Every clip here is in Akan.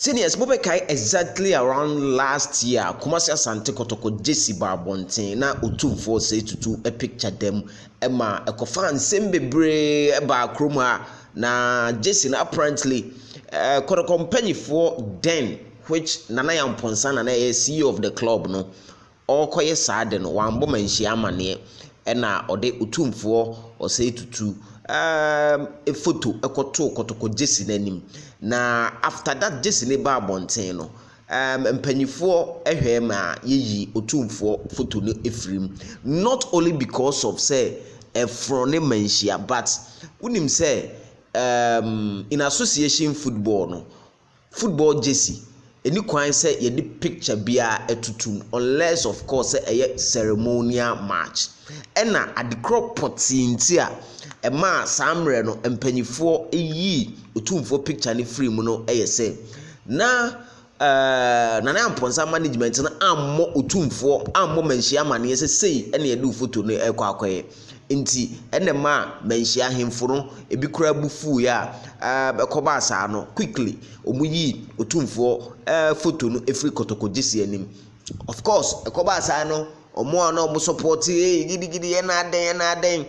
Seniors mo bɛkae exactly around last year Kumasi Asante Kɔtɔkɔ Gyesi baa abɔnten na Otumfoɔ Say Tutu picture da mu ma ɛkɔfaa nsɛm bebree baa kurom ha na Gyesi no apparently eh, Kɔtɔkɔ mpanyifoɔ then which Nana Yampɔnsa na na ɛyɛ CEO of the club no ɔrekɔyɛ saa ade no, wammɔ manhyia amanneɛ. Ɛnna ɔde Otumfoɔ Osei Tutu ɛɛm foto kɔtoo Kotoko Gyasi no anim. Na after that Gyasi no baa abɔnten no, ɛɛm mpanimfoɔ hwɛe ma yɛyii Otumfoɔ foto no firii mu. Not only because of sɛ ɛforɔn ne manhyia but wonim sɛ ɛɛm in association football no, Football jersey, ɛni kwan sɛ yɛde picture biara atutu mu unless of course sɛ ɛyɛ ceremonial match. Ɛna adekorɔ pɔtee nti a ɛmaa saa mmerɛ no mpanimfoɔ yii Otumfoɔ picture no firii mu no yɛ sɛ, na ɛɛɛ Nana Amponsah management no ammɔ Otumfoɔ ammɔ manhyia amaneɛ sɛ sei na yɛde wo photo no rekɔ akɔyɛ. Ntsi nna ɛmaa mbanhyia ahemfo no bi koraa bo fuuii a ɛɛb kɔbaa saa no, quickly wɔyii Otumfoɔ ɛɛb foto no firii kotokogye si anim. Of course, ɛkɔbaa saa no, wɔn a na wɔsupporte eei gidi gidi yɛ na adɛn yɛ na adɛn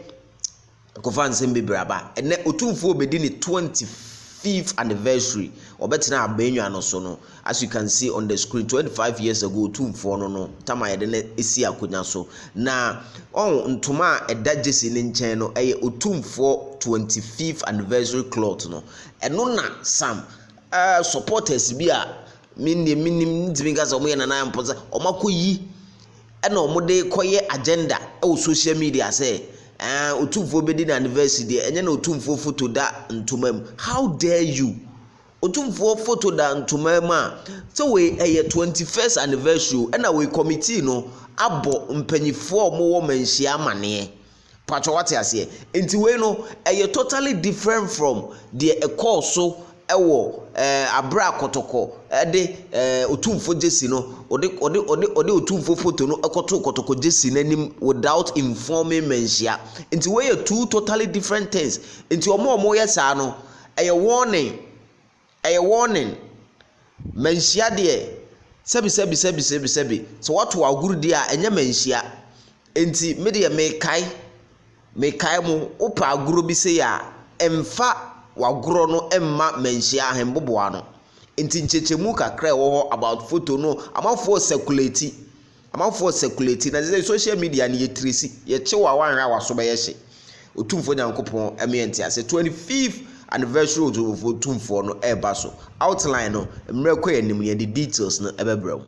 ɛkɔfaa nsɛm bebree aba. Ɛnnɛ Otumfoɔ rebɛdi ne twenty fifth anniversary, ɔbɛtenaa Abenwa no so no, As you can see on the screen, 25 years ago otumfoɔ no no tam a yɛde no si akonya so. Na ɔn ntoma a ɛda Jesse ne nkyɛn no ɛyɛ otumfoɔ 25th anniversary cloth no. Ɛno na sam uh, supporters bi a me nneɛ menim ntumi nka sɛ wɔn yɛ nana mpo sɛ wɔn akɔyi ɛna wɔn de kɔyɛ agenda ɛwɔ social media sɛ ɛɛ eh, otumfoɔ bɛdi na anniversary deɛ ɛnyɛ na otumfoɔ foto da ntoma mu. How dare you? Otumfoɔ photo da ntoma mu a sɛ wei ɛyɛ twenty first anniversary o ɛna wei committee no abɔ mpanyinfoɔ a wɔwɔ manhyia amaneɛ paatwa wate aseɛ nti wei no ɛyɛ totally different from deɛ ɛkɔɔ so ɛwɔ ɛɛ abere a kɔtɔkɔ ɛde ɛɛ otumfoɔ gyesi no ɔde ɔde ɔde ɔde otumfoɔ photo no ɛkɔto kɔtɔkɔ gyesi n'anim without informing manhyia nti wei yɛ two totally different things nti wɔn a wɔyɛ saa no. Ɛyɛ warning, ɛyɛ warning. Manhyia deɛ, sɛbi sɛbi sɛbi sɛbi sɛbi. Sɛ wɔto agorudie a, ɛnyɛ manhyia. Enti me deɛ mekae, mekae mo. Wopɛ agorɔ bi sei a, mfa w'agorɔ no mma manhyia ahemboboa no. Enti nkyɛkyɛmu kakra a ɛwɔ hɔ about photo no, amanfoɔ circulate. Amanfoɔ circulate na sɛsɛ social media no yɛ tiresi yɛ kyew a wanhwɛ a waso bɛyɛ hye Otumfoɔ Nyankopɔn ɛmɛ yɛ ntease 25th anniversary Otumfoɔ Tumfoɔ no ɛɛba so outline no mmerɛ kɔ yɛ nim no yɛde details no ɛbɛbrɛ wo.